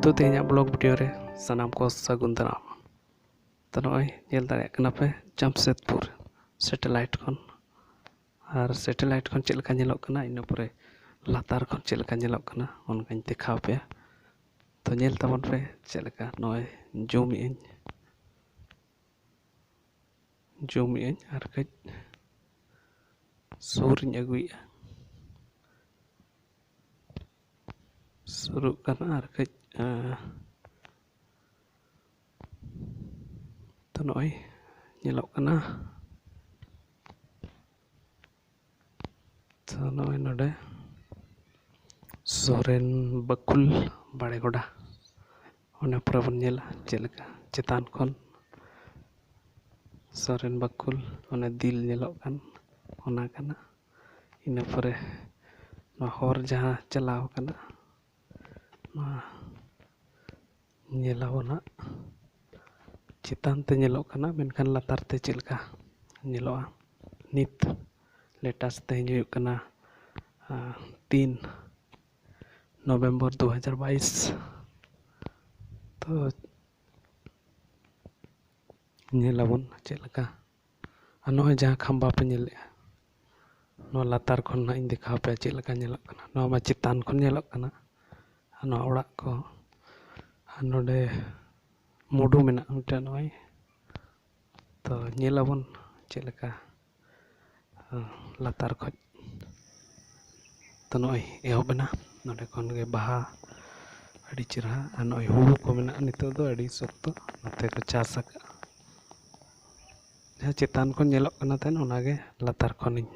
ᱛᱚ ᱛᱮᱦᱮᱧᱟᱜ blog video ᱨᱮ ᱥᱟᱱᱟᱢ ᱠᱚ ᱥᱟᱹᱜᱩᱱ ᱫᱟᱨᱟᱢ ᱛᱚ ᱱᱚᱜᱼᱚᱭ ᱧᱮᱞ ᱫᱟᱲᱮᱭᱟᱜ ᱠᱟᱱᱟ ᱯᱮ ᱡᱟᱢᱥᱮᱫᱽᱯᱩᱨ ᱥᱮᱴᱮᱞᱟᱭᱤᱴ ᱠᱷᱚᱱ ᱟᱨ ᱥᱮᱴᱮᱞᱟᱭᱤᱴ ᱠᱷᱚᱱ ᱪᱮᱫ ᱞᱮᱠᱟ ᱧᱮᱞᱚᱜ ᱠᱟᱱᱟ ᱤᱱᱟᱹ ᱯᱚᱨᱮ ᱞᱟᱛᱟᱨ ᱠᱷᱚᱱ ᱪᱮᱫ ᱞᱮᱠᱟ ᱧᱮᱞᱚᱜ ᱠᱟᱱᱟ ᱚᱱᱠᱟᱧ ᱫᱮᱠᱷᱟᱣ ᱯᱮᱭᱟ ᱛᱚ ᱧᱮᱞ ᱛᱟᱵᱚᱱ ᱯᱮ ᱪᱮᱫ ᱞᱮᱠᱟ ᱱᱚᱜᱼᱚᱭ ᱡᱩᱢᱮᱫ ᱟᱹᱧ ᱡᱩᱢᱮᱫ ᱟᱹᱧ ᱟᱨ ᱠᱟᱹᱡ ᱥᱩᱨᱤᱧ ᱟᱹᱜᱩᱭᱮᱫᱼᱟ ᱥᱩᱨᱩᱜ ᱠᱟᱱᱟ ᱟᱨ ᱠᱟᱹᱡ ᱛᱚ ᱱᱚᱜᱼᱚᱭ ᱧᱮᱞᱚᱜ ᱠᱟᱱᱟ ᱛᱚ ᱱᱚᱜᱼᱚᱭ ᱱᱚᱰᱮ ᱥᱚᱨᱮᱱ ᱵᱟᱹᱠᱩᱞ ᱵᱟᱲᱮ ᱜᱚᱰᱟ ᱚᱱᱟ ᱯᱚᱨᱮ ᱵᱚᱱ ᱧᱮᱞᱟ ᱪᱮᱫ ᱞᱮᱠᱟ ᱪᱮᱛᱟᱱ ᱠᱷᱚᱱ ᱥᱚᱨᱮᱱ ᱵᱟᱹᱠᱩᱞ ᱚᱱᱮ ᱫᱤᱞ ᱧᱮᱞᱚᱜ ᱠᱟᱱ ᱚᱱᱟ ᱠᱟᱱᱟ ᱤᱱᱟᱹ ᱯᱚᱨᱮ ᱱᱚᱣᱟ ᱦᱚᱨ ᱡᱟᱦᱟᱸ ᱪᱟᱞᱟᱣ ᱠᱟᱱᱟ ᱱᱚᱣᱟ ᱧᱮᱞᱟᱵᱚᱱ ᱦᱟᱸᱜ ᱪᱮᱛᱟᱱ ᱛᱮ ᱧᱮᱞᱚᱜ ᱠᱟᱱᱟ ᱢᱮᱱᱠᱷᱟᱱ ᱞᱟᱛᱟᱨ ᱛᱮ ᱪᱮᱫ ᱞᱮᱠᱟ ᱧᱮᱞᱚᱜᱼᱟ ᱱᱤᱛ ᱞᱮᱴᱮᱥᱴ ᱛᱮᱦᱮᱧ ᱦᱩᱭᱩᱜ ᱠᱟᱱᱟ ᱛᱤᱱ ᱱᱚᱵᱷᱮᱢᱵᱚᱨ ᱫᱩ ᱦᱟᱡᱟᱨ ᱵᱟᱭᱤᱥ ᱛᱚ ᱧᱮᱞᱟᱵᱚᱱ ᱪᱮᱫ ᱞᱮᱠᱟ ᱟᱨ ᱱᱚᱜᱼᱚᱭ ᱡᱟᱦᱟᱸ ᱠᱷᱟᱢᱵᱟ ᱯᱮ ᱧᱮᱞᱮᱫᱼᱟ ᱱᱚᱣᱟ ᱞᱟᱛᱟᱨ ᱠᱷᱚᱱ ᱱᱟᱜ ᱤᱧ ᱫᱮᱠᱷᱟᱣ ᱯᱮᱭᱟ ᱪᱮᱫ ᱞᱮᱠᱟ ᱧᱮᱞᱚᱜ ᱠᱟᱱᱟ ᱱᱚᱣᱟ ᱢᱟ ᱪᱮᱛᱟᱱ ᱠᱷᱚᱱ ᱧᱮᱞᱚᱜ ᱠᱟᱱᱟ ᱟᱨ ᱱᱚᱣᱟ ᱚᱲᱟᱜ ᱠᱚ ᱟᱨ ᱱᱚᱰᱮ ᱢᱩᱰᱩ ᱢᱮᱱᱟᱜᱼᱟ ᱢᱤᱫᱴᱟᱝ ᱱᱚᱜᱼᱚᱭ ᱛᱚ ᱧᱮᱞ ᱟᱵᱚᱱ ᱪᱮᱫ ᱞᱮᱠᱟ ᱞᱟᱛᱟᱨ ᱠᱷᱚᱱ ᱛᱚ ᱱᱚᱜᱼᱚᱭ ᱮᱦᱚᱵ ᱮᱱᱟ ᱱᱚᱰᱮ ᱠᱷᱚᱱ ᱜᱮ ᱵᱟᱦᱟ ᱟᱹᱰᱤ ᱪᱮᱦᱨᱟ ᱟᱨ ᱱᱚᱜᱼᱚᱭ ᱦᱩᱲᱩ ᱠᱚ ᱢᱮᱱᱟᱜᱼᱟ ᱱᱤᱛᱚᱜ ᱫᱚ ᱟᱹᱰᱤ ᱥᱚᱠᱛᱚ ᱱᱚᱛᱮ ᱠᱚ ᱪᱟᱥ ᱟᱠᱟᱫᱼᱟ ᱡᱟᱦᱟᱸ ᱪᱮᱛᱟᱱ ᱠᱷᱚᱱ ᱧᱮᱞᱚᱜ ᱠᱟᱱᱟ ᱛᱟᱦᱮᱱ ᱚᱱᱟᱜᱮ ᱞᱟᱛᱟᱨ ᱠᱷᱚᱱᱤᱧ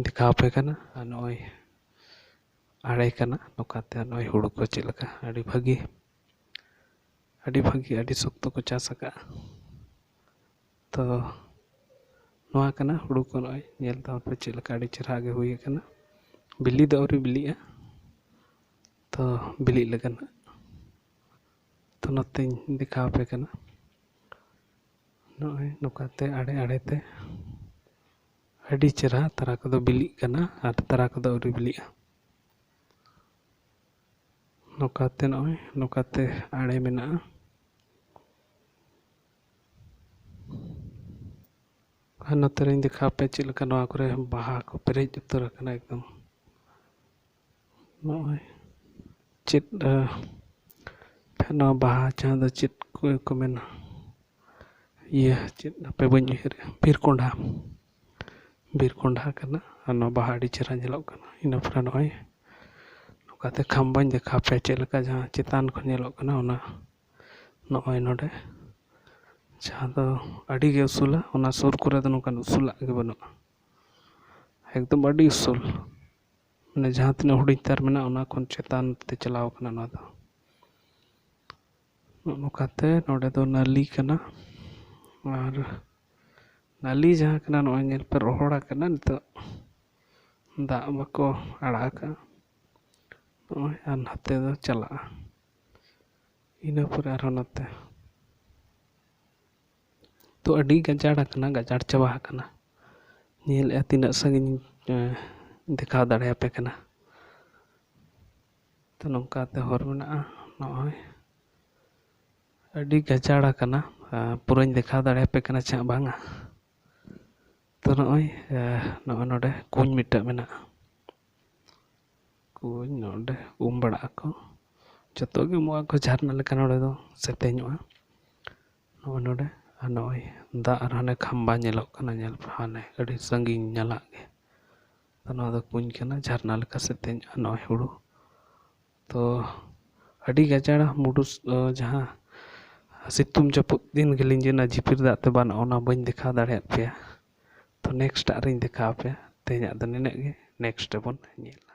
ᱫᱮᱠᱷᱟᱣ ᱟᱯᱮ ᱠᱟᱱᱟ ᱟᱨ ᱱᱚᱜᱼᱚᱭ ᱟᱲᱮ ᱠᱟᱱᱟ ᱱᱚᱝᱠᱟᱛᱮ ᱱᱚᱜᱼᱚᱭ ᱦᱳᱲᱳ ᱠᱚ ᱪᱮᱫ ᱞᱮᱠᱟ ᱟᱹᱰᱤ ᱵᱷᱟᱹᱜᱤ ᱟᱹᱰᱤ ᱵᱷᱟᱹᱜᱤ ᱟᱹᱰᱤ ᱥᱚᱠᱛᱚ ᱠᱚ ᱪᱟᱥ ᱠᱟᱜᱼᱟ ᱛᱚ ᱱᱚᱣᱟ ᱠᱟᱱᱟ ᱦᱳᱲᱳ ᱠᱚ ᱱᱚᱜᱼᱚᱭ ᱧᱮᱞ ᱛᱟᱵᱚᱱ ᱯᱮ ᱪᱮᱫ ᱞᱮᱠᱟ ᱟᱹᱰᱤ ᱪᱮᱦᱨᱟ ᱜᱮ ᱦᱩᱭ ᱠᱟᱱᱟ ᱵᱤᱞᱤ ᱫᱚ ᱟᱹᱣᱨᱤ ᱵᱤᱞᱤᱜᱼᱟ ᱛᱚ ᱵᱤᱞᱤᱜ ᱞᱮᱠᱟᱱᱟᱜ ᱛᱚ ᱱᱚᱛᱮᱧ ᱫᱮᱠᱷᱟᱣ ᱟᱯᱮ ᱠᱟᱱᱟ ᱱᱚᱜᱼᱚᱭ ᱱᱚᱝᱠᱟᱛᱮ ᱟᱲᱮ ᱟᱲᱮ ᱛᱮ ᱟᱹᱰᱤ ᱪᱮᱦᱨᱟ ᱛᱟᱨᱟ ᱠᱚᱫᱚ ᱵᱤᱞᱤᱜ ᱠᱟᱱᱟ ᱟᱨ ᱛᱟᱨᱟ ᱠᱚᱫᱚ ᱟᱹᱣᱨᱤ ᱵᱤᱞᱤᱜᱼᱟ ᱱᱚᱝᱠᱟᱛᱮ ᱱᱚᱜᱼᱚᱭ ᱱᱚᱝᱠᱟᱛᱮ ᱟᱲᱮ ᱢᱮᱱᱟᱜᱼᱟ ᱟᱨ ᱱᱚᱛᱮ ᱨᱤᱧ ᱫᱮᱠᱷᱟᱣ ᱟᱯᱮᱭᱟ ᱪᱮᱫ ᱞᱮᱠᱟ ᱱᱚᱣᱟ ᱠᱚᱨᱮ ᱵᱟᱦᱟ ᱠᱚ ᱯᱮᱨᱮᱡ ᱩᱛᱟᱹᱨ ᱟᱠᱟᱱᱟ ᱮᱠᱫᱚᱢ ᱱᱚᱜᱼᱚᱭ ᱪᱮᱫ ᱱᱚᱣᱟ ᱵᱟᱦᱟ ᱪᱟᱥ ᱫᱚ ᱪᱮᱫ ᱠᱚ ᱢᱮᱱᱟ ᱤᱭᱟᱹ ᱪᱮᱫ ᱦᱟᱯᱮ ᱵᱟᱹᱧ ᱩᱭᱦᱟᱹᱨᱮᱜᱼᱟ ᱵᱤᱨ ᱠᱚᱱᱰᱷᱟ ᱵᱤᱨ ᱠᱚᱱᱰᱷᱟ ᱠᱟᱱᱟ ᱟᱨ ᱱᱚᱣᱟ ᱵᱟᱦᱟ ᱟᱹᱰᱤ ᱪᱮᱦᱨᱟ ᱧᱮᱞᱚᱜ ᱠᱟᱱᱟ ᱤᱱᱟᱹ ᱯᱚᱨᱮ ᱱᱚᱜᱼᱚᱭ ᱱᱚᱝᱠᱟᱛᱮ ᱠᱷᱟᱢᱵᱟᱧ ᱫᱮᱠᱷᱟᱣ ᱯᱮᱭᱟ ᱪᱮᱫ ᱞᱮᱠᱟ ᱡᱟᱦᱟᱸ ᱪᱮᱛᱟᱱ ᱠᱷᱚᱱ ᱧᱮᱞᱚᱜ ᱠᱟᱱᱟ ᱚᱱᱟ ᱱᱚᱜᱼᱚᱭ ᱱᱚᱰᱮ ᱡᱟᱦᱟᱸ ᱫᱚ ᱟᱹᱰᱤᱜᱮ ᱩᱥᱩᱞᱟ ᱚᱱᱟ ᱥᱩᱨ ᱠᱚᱨᱮ ᱫᱚ ᱱᱚᱝᱠᱟᱱ ᱩᱥᱩᱞᱟᱜ ᱜᱮ ᱵᱟᱹᱱᱩᱜᱼᱟ ᱮᱠᱫᱚᱢ ᱟᱹᱰᱤ ᱩᱥᱩᱞ ᱢᱟᱱᱮ ᱡᱟᱦᱟᱸ ᱛᱤᱱᱟᱹᱜ ᱦᱩᱰᱤᱧ ᱛᱟᱨ ᱢᱮᱱᱟᱜᱼᱟ ᱚᱱᱟ ᱠᱷᱚᱱ ᱪᱮᱛᱟᱱ ᱛᱮ ᱪᱟᱞᱟᱣ ᱠᱟᱱᱟ ᱱᱚᱣᱟ ᱫᱚ ᱱᱚᱜᱼᱚ ᱱᱚᱝᱠᱟᱛᱮ ᱱᱚᱰᱮ ᱫᱚ ᱱᱟᱹᱞᱤ ᱠᱟᱱᱟ ᱟᱨ ᱱᱟᱹᱞᱤ ᱡᱟᱦᱟᱸ ᱠᱟᱱᱟ ᱱᱚᱜᱼᱚᱭ ᱧᱮᱞ ᱯᱮ ᱨᱚᱦᱚᱲ ᱟᱠᱟᱱᱟ ᱱᱤᱛᱚᱜ ᱫᱟᱜ ᱵᱟᱠᱚ ᱟᱲᱟᱜ ᱟᱠᱟᱫᱼᱟ ᱱᱚᱜᱼᱚᱭ ᱟᱨ ᱱᱟᱛᱮ ᱫᱚ ᱪᱟᱞᱟᱜᱼᱟ ᱤᱱᱟᱹ ᱯᱚᱨᱮ ᱟᱨᱦᱚᱸ ᱱᱚᱛᱮ ᱛᱚ ᱟᱹᱰᱤ ᱜᱟᱡᱟᱲ ᱟᱠᱟᱱᱟ ᱜᱟᱡᱟᱲ ᱪᱟᱵᱟ ᱟᱠᱟᱱᱟ ᱧᱮᱞᱮᱜᱼᱟ ᱛᱤᱱᱟᱹᱜ ᱥᱟᱺᱜᱤᱧ ᱫᱮᱠᱷᱟᱣ ᱫᱟᱲᱮᱭᱟᱯᱮ ᱠᱟᱱᱟ ᱛᱚ ᱱᱚᱝᱠᱟᱛᱮ ᱦᱚᱨ ᱢᱮᱱᱟᱜᱼᱟ ᱱᱚᱜᱼᱚᱭ ᱟᱹᱰᱤ ᱜᱟᱡᱟᱲ ᱟᱠᱟᱱᱟ ᱯᱩᱨᱟᱹᱧ ᱫᱮᱠᱷᱟᱣ ᱫᱟᱲᱮᱭᱟᱯᱮ ᱠᱟᱱᱟ ᱪᱮ ᱦᱟᱸᱜ ᱵᱟᱝᱟ ᱛᱚ ᱱᱚᱜᱼᱚᱭ ᱱᱚᱜᱼᱚᱭ ᱱᱚᱰᱮ ᱠᱩᱧ ᱢᱤᱫᱴᱮᱡ ᱢᱮᱱᱟᱜᱼᱟ ᱠᱩᱧ ᱱᱚᱰᱮ ᱩᱢ ᱵᱟᱲᱟᱜ ᱟᱠᱚ ᱡᱚᱛᱚᱜᱮ ᱩᱢᱩᱜ ᱟᱠᱚ ᱡᱷᱟᱨᱱᱟ ᱞᱮᱠᱟ ᱱᱚᱰᱮ ᱫᱚ ᱥᱮᱛᱮᱧᱚᱜᱼᱟ ᱱᱚᱜᱼᱚᱭ ᱱᱚᱰᱮ ᱟᱨ ᱱᱚᱜᱼᱚᱭ ᱫᱟᱜ ᱟᱨ ᱦᱟᱱᱮ ᱠᱷᱟᱢᱵᱟ ᱧᱮᱞᱚᱜ ᱠᱟᱱᱟ ᱧᱮᱞ ᱯᱮ ᱦᱟᱱᱮ ᱟᱹᱰᱤ ᱥᱟᱺᱜᱤᱧ ᱧᱟᱞᱟᱫ ᱜᱮ ᱛᱚ ᱱᱚᱣᱟ ᱫᱚ ᱠᱩᱧ ᱠᱟᱱᱟ ᱡᱷᱟᱨᱱᱟ ᱞᱮᱠᱟ ᱥᱮ ᱛᱮᱧ ᱟᱨ ᱱᱚᱜᱼᱚᱭ ᱦᱩᱲᱩ ᱛᱚ ᱟᱹᱰᱤ ᱜᱟᱡᱟᱲ ᱢᱩᱰᱩ ᱡᱟᱦᱟᱸ ᱥᱤᱛᱩᱝ ᱡᱟᱹᱯᱩᱫ ᱫᱤᱱ ᱜᱮ ᱞᱤᱸᱡᱤᱱᱟ ᱡᱷᱤᱯᱤᱨ ᱫᱟᱜ ᱛᱮ ᱵᱟᱱᱚᱜᱼᱟ ᱚᱱᱟ ᱵᱟᱹᱧ ᱫᱮᱠᱷᱟᱣ ᱫᱟᱲᱮᱭᱟᱜ ᱯᱮᱭᱟ ᱛᱚ ᱱᱮᱠᱥᱴ ᱟᱜ ᱨᱤᱧ ᱫᱮᱠᱷᱟᱣ ᱯᱮᱭᱟ ᱛᱮᱦᱮᱧᱟᱜ ᱫᱚ ᱱᱤᱱᱟᱹᱜ ᱜᱮ ᱱᱮᱠᱥᱴ ᱨᱮᱵᱚᱱ ᱧᱮᱞᱟ